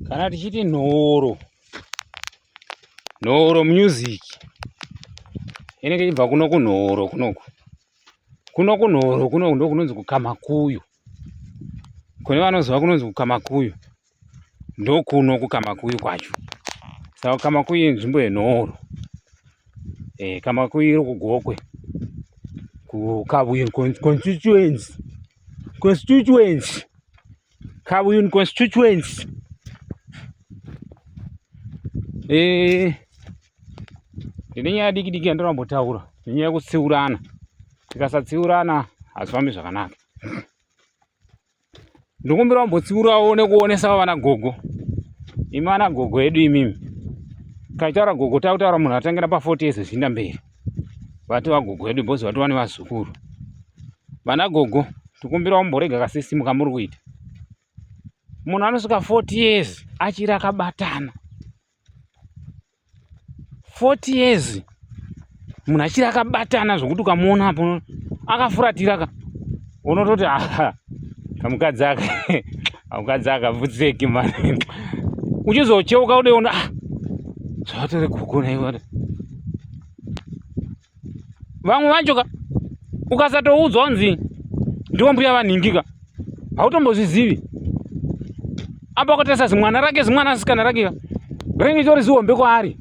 kana tichiti nhoro nhoro music inenge ichibva kuno kunhoro kunoku kuno kunhoro kunoku ndo kunonzi kukamakuyu kune vanoziva kunonzi kukamakuyu ndokuno kukamakuyu kwacho saka kukamakuyu inzvimbo yenhoro e, kamakuyu iri kugokwe kukabuyu constituency constituency Kabuyuni constituency eh ndine nyaya diki diki yandinombotaura nenyaya yekutsiurana tikasatsiurana hazvifambi zvakanaka ndikumbira kumbotsiurawo nekuonesawo vana gogo imi vana gogo edu imimi taitaura gogo takutaura munhu atangira pa 40 years zviinda mberi vatova gogo vedu bhozi vatova nevazukuru vana gogo tikumbira umborega kasisitimu kamuri kuita munhu anosvika 40 years achiri akabatana 40 years munhu achiri akabatana zvokuti ukamuona apo akafuratira ka unototi aha kamukadzi aka kamukadzi aka vutseki mani uchizocheuka udeona ah, zvatori guku naiwada vamwe vacho ka ukasatoudzwa unzi ndiwo mbuya vanhingika hautombozvizivi apa ukatarisa zimwana rake zimwana asikana rake ka rinenge chitori zihombe kwaari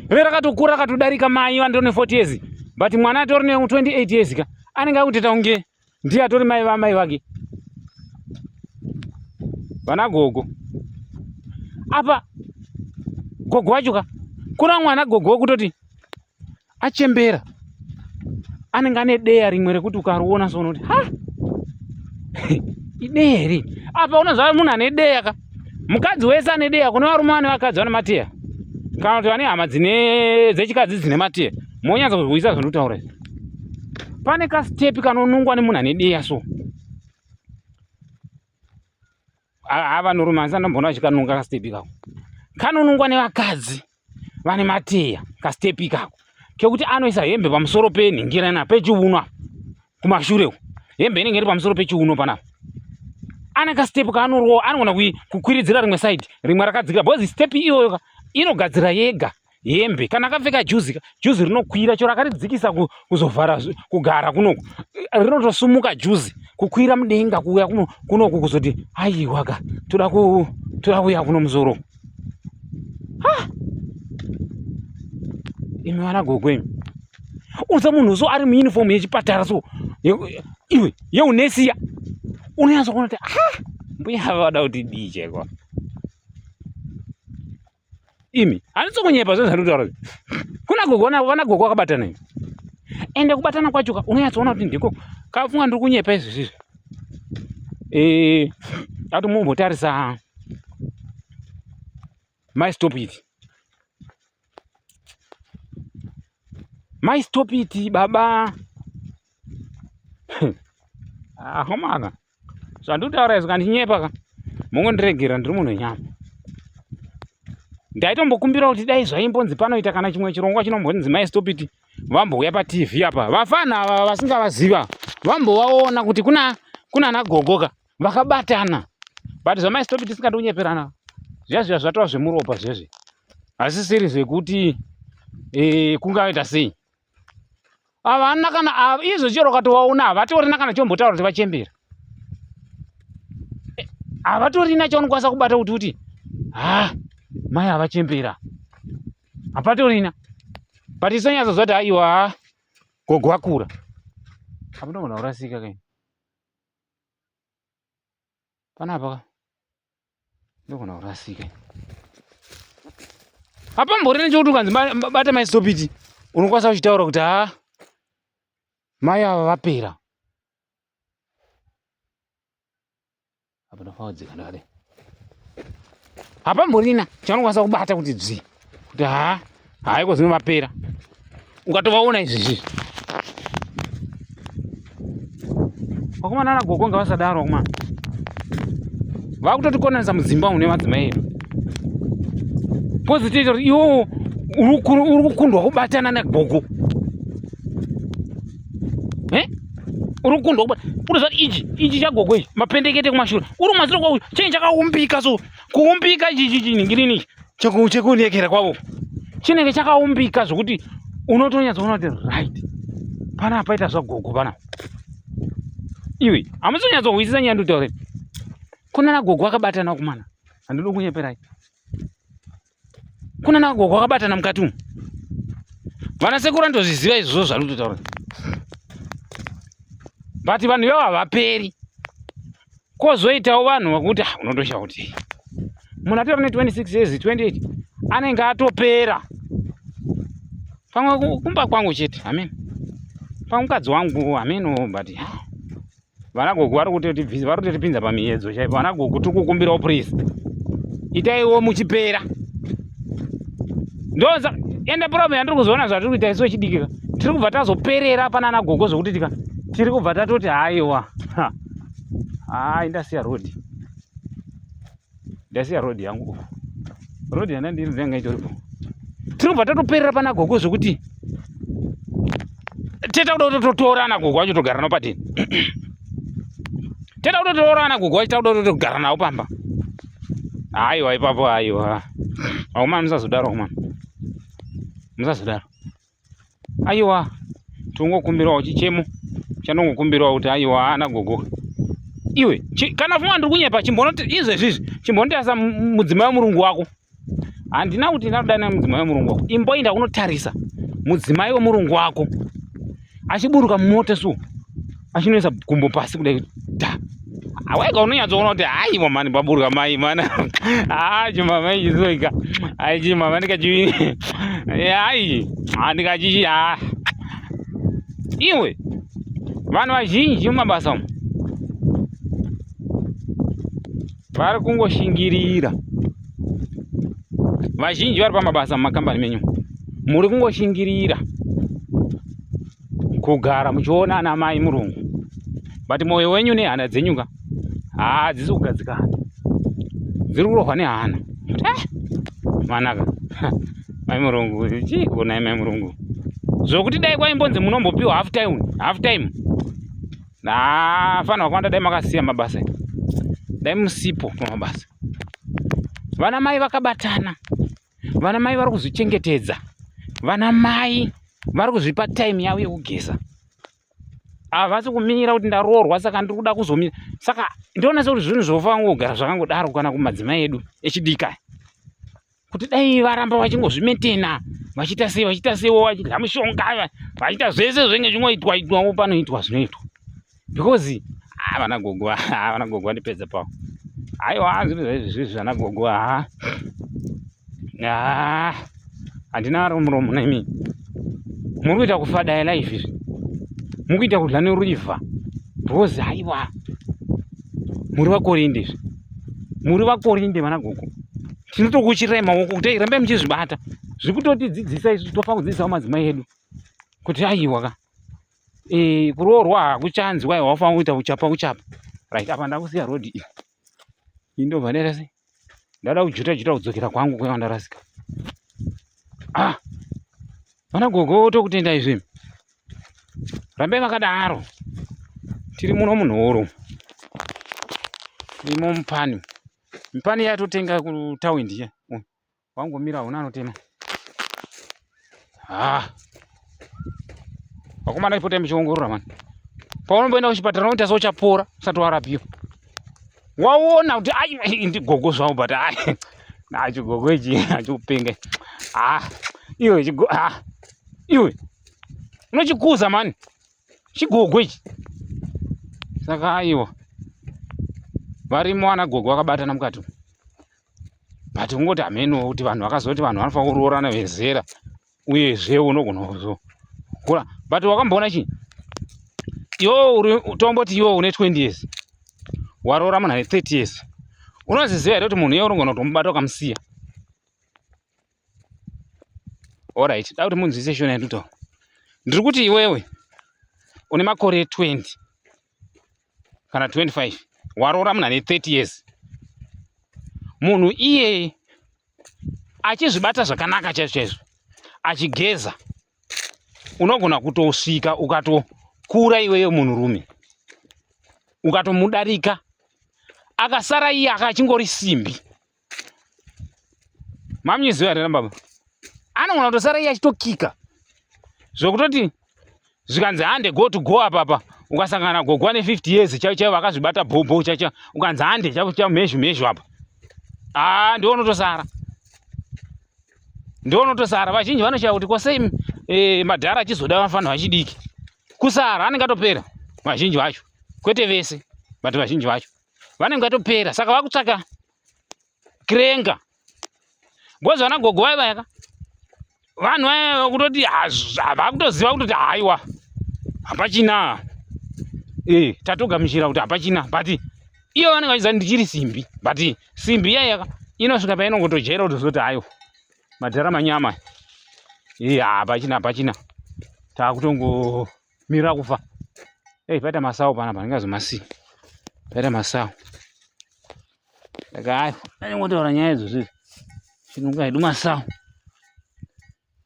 rive rakatokura akatodarika mai vanditori ne40 years but mwana atori ne28 years ka anenge akuteta kunge ndiye atori mai vamai vake vana gogo apa gogo wacho ka kuna mwana gogo wekutoti achembera anenge ane deya rimwe rekuti ukariona so unoti ha ideya here apa unoziva munhu ane deya ka mukadzi wese ane deya kune varume vane vakadzi vane mateya kana kuti vane hama dzine dzechikadzi dzine mateya monyatsa kuzwisa zvandikutaura izvi pane kastepi kanonungwa nemunhu ane deya so haa vanorume asi andomboona vachikanunga kastepi kako kanonungwa nevakadzi vane mateya kastepi kako kekuti anoisa hembe pamusoro penhingira ina pechiuno apa kumashure uko hembe inenge iri pamusoro pechiuno panapa ane kastepi kaanorowa anogona kukwiridzira rimwe saidi rimwe rakadzikira bhozi stepi iyoyoka inogadzira yega hembe kana akapfeka juzi ka juzi rinokwira chero akaridzikisa kuzovhara kugara kunoku rinotosumuka juzi kukwira mudenga kuuya kunoku kuzoti aiwa ka toda ku toda kuuya kuno muzoro ha imi vana gogo imi unza munhu so ari muuniform yechipatara so iwe yeunesiya unonyatsokuona kuti ha mbuya vada kuti dii chaiko imi handisi kunyepa zve zvandikutaura zvi kuna gogo vana gogo vakabatana imi ende kubatana kwacho ka unonyatsoona kuti ndiko kafunga ndiri kunyepa izvi zvizvi ee eh, ati mumbotarisa mai stop it mai stop it baba ahomana ah, zvandikutaura izvo kandinyepa ka mongondiregera ndiri munhu wenyama ndaitombokumbira kuti dai zvaimbonzi panoita kana chimwe chirongwa chinombonzi mai stopiti vambouya patv apa vafana ava vasingavaziva vambovaona kuti kuna kuna nagogoka vakabatana but zvamai stopiti singadi kunyeperana zviya zviya zvatova zvemuropa zvezvi hazisiri zvekuti e, eh, kungaita sei havana kana izvo chero ukatovaona havatoorina kana chombotaura kuti vachembera eh, havatorina chaunokwanisa kubata kuti kuti ha mai havachembera hapatorina but isonyatsozvati haiwa gogo vakura apa ndomona kurasika kaini panapa ka ndogona kurasika apambori nechokuti ukanzi bata mai stopiti unokwanisa kuchitaura kuti ha mai ava vapera apa ndofaudzika ndakadai hapamborina chanokwanisa kubata kuti dzvii kuti haa haiko zvinovapera ukatovaona izvezvi vakomana ana gogo nga vasadaro vakomana vakutotikonanisa mudzimba une madzimai edu kozotoita kuti iwo uri kukundwa kubatana nagogo uri kukundwa kubata uri zvati ichi ichi chagogo ichi mapendekete kumashure uri maziro kwauyu chinyi chakaumbika so kuumbika ichi ichi chiningirinichi chekuniekera kwavo chinenge chakaumbika zvokuti unotonyatsoona kuti right pana apaita zvagogo pana iwe hamusonyatsohwisisa nyaya nditaure kunana gogo akabatana kumana handidi kunyeperai kunana gogo akabatana mukati umu vana sekuru andozviziva izvozvo zvarutotaura but vanhu ivo havaperi kozoitawo vanhu vakuti ah, unotosha kuti munhu atori ne 26 years 28 anenge atopera pamwe kumba kwangu chete amen pamwe mukadzi wangu amen oh, but ah, vana gogo vari kutotibvisa vari kutotipinza pamiyedzo chaipo vana gogo tiri kukumbirawo please itaiwo muchipera ndoza ende problem yandiri kuzoona zvatiri kuita isu vechidikika tiri kubva tazoperera panana gogo zvokuti tika tiri kubva tatoti haiwa Haa indasiya road. Ndasiya road yangu uko. Road yana ndiri ndanga itoripo. Tinobva tatoperera pana gogo zvekuti teta kuda kutotorana gogo wacho togara nawo patini. Teta kuda kutotorana gogo wacho takuda kutogara nawo pamba. Haiwa ipapo haiwa. Akomana musazodaro akomana. Musazodaro. aiwa tongokumbirawo chichemo chanongokumbirawo kuti aiwa haana gogo iwe kana fuma ndiri kunyepa chimbonoti izvezvizvi chimbonotarisa mudzimai wemurungu wako handina kuti ndinatodana mudzimai wemurungu wako imboinda kunotarisa mudzimai wemurungu wako achiburuka mumoto so achinoisa gumbo pasi kudai da aweka unonyatsoona kuti hayi mamani paburwa mai mana haa chimama ichizoika ai chimama ndikachi ai ndikachichi haa iwe vanhu vazhinji mumabasa umu vari kungoshingirira vazhinji vari pamabasa mumakambani menyu muri kungoshingirira kugara muchiona ana mai murungu but moyo wenyu nehana dzenyu ka haa ah, dzisi kugadzikana dziri kurohwa nehana eh, manaka mai murungu chii kuonai mai murungu zvokuti dai kwaimbonzi munombopiwa half time half time nafanirwa kwanda dai makasiya mabasa dai musipo pamabasa vana mai vakabatana vana mai vari kuzvichengetedza vana mai vari kuzvipa time yavo yekugeza havasi ah, kumirira kuti ndaroorwa saka ndiri kuda kuzomira saka ndoona sekuti zvinhu zvofa kugara zvakangodaro kana kumadzimai edu echidika kuti dai varamba vachingozvimetena vachiita sei vachiita seiwo vachidya mushonga vachiita zvese zvenge zvinoitwa itwawo panoitwa zvinoitwa because ah vana gogo ah vana gogo vandipedza pawo aiwa zvinhu zvaizvi zvizvi vana gogo ah ah handina ari muromo nemi muri kuita kufadaya life izvi muri kuita kudla neruivha because aiwa muri vakorinde izvi muri vakorinde vana gogo tinotokuchirai maoko kuti ai rambai muchizvibata zviri kutotidzidzisa izvi tofa kudzidzisawo madzimai edu kuti aiwa ka eh kuroorwa hakuchanzwa iwe wafa kuita uchapa uchapa right apa ndakusiya road iyi iyi ndobva ndaita sei ndada kujuta juta kudzokera kwangu kwaiva ndarasika ah vana gogo tokutenda izvi rambai vakadaro tiri muno munhoro imo mupani mupani yatotenga kutawindi iya Wangomira huna anotema. Ah. Vakomana ipote muchiongorora mani. Paunomboenda kuchipatara unoita sochapora usati warapiwa. Waona kuti ai ndigogo zvawo but ai. Na chigogo ichi achikupenga. Ah. Iwe chigogo ah. Iwe. Unochikuza mani. Chigogo ichi. Saka aiwa. Varimo ana gogo vakabatana mukati umu. but kungoti hameno kuti vanhu vakazoti vanhu vanofanira kuroorana vezera uyezve unogona kuzokura but wakamboona chii iwo tomboti iwo une 20 years waroora munhu ane 30 years unoziziva here kuti munhu iye unogona kutomubata ukamusiya orit da kuti munzwise shona yanditaura ndiri kuti iwewe une makore 20 kana 25 waroora munhu ane 30 years munhu iyeye achizvibata zvakanaka chaizvo chaizvo achigeza unogona kutosvika ukatokura iweyo munhurume ukatomudarika akasara iye aka achingori simbi mamyizi uyo atenda baba anogona kutosara iye achitokika zvokutoti zvikanzi hande go to go apapa ukasangana gogwa ne 50 years chaivo chaivo vakazvibata bhobho chacha ukanzi hande chaivo chaivo mhezhu mhezhu apa aa ndiwo unotosara ndiwo unotosara vazhinji vanoshaya kuti kwasei eh, madhara achizoda vafana vachidiki kusara anenge atopera vazhinji vacho kwete vese but vazhinji vacho vanenge vatopera saka vakutsvaka kirenga bhozi vana gogo vaye vayaka vanhu vaye vakutoti vakutoziva kutoti haiwa hapachina ee eh, tatogamuchira kuti hapachina but iyo vanenge vachiziva ndichiri simbi but simbi iya yaka inosvika painongotojera kutozoti haiwa madhara manyama ee eh, hapachina hapachina takutongo mira kufa hey, eh, paita masawo panapa ndingazomasiya paita masawo ndakaayo anyangotaura nyaya idzo zviri chinonga hedu masawo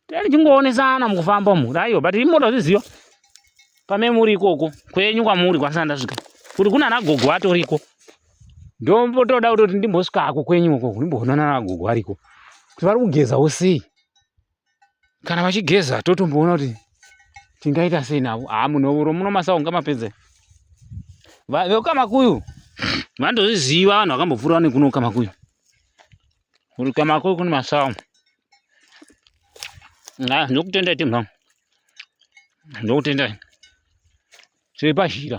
tani chingoonesana mukufamba umu raiyo but imoda zviziva pame muri ikoko kwenyu kwamuri kwasana ndasvika kuti kuna nagogo atoriko ndombotoda kutoti ndimbosvikako kwenyu uko ndimboonana nagogo ariko kuti vari kugezawo sei kana vachigeza totomboona kuti tingaita sei navo haa munovuro muno masaunga mapedze vekamakuyu vandozviziva vanhu vakambopfuura nekuno kamakuyu uri kamakuyu kune masawu a ndokutendai timha ndokutendai tiri pazhira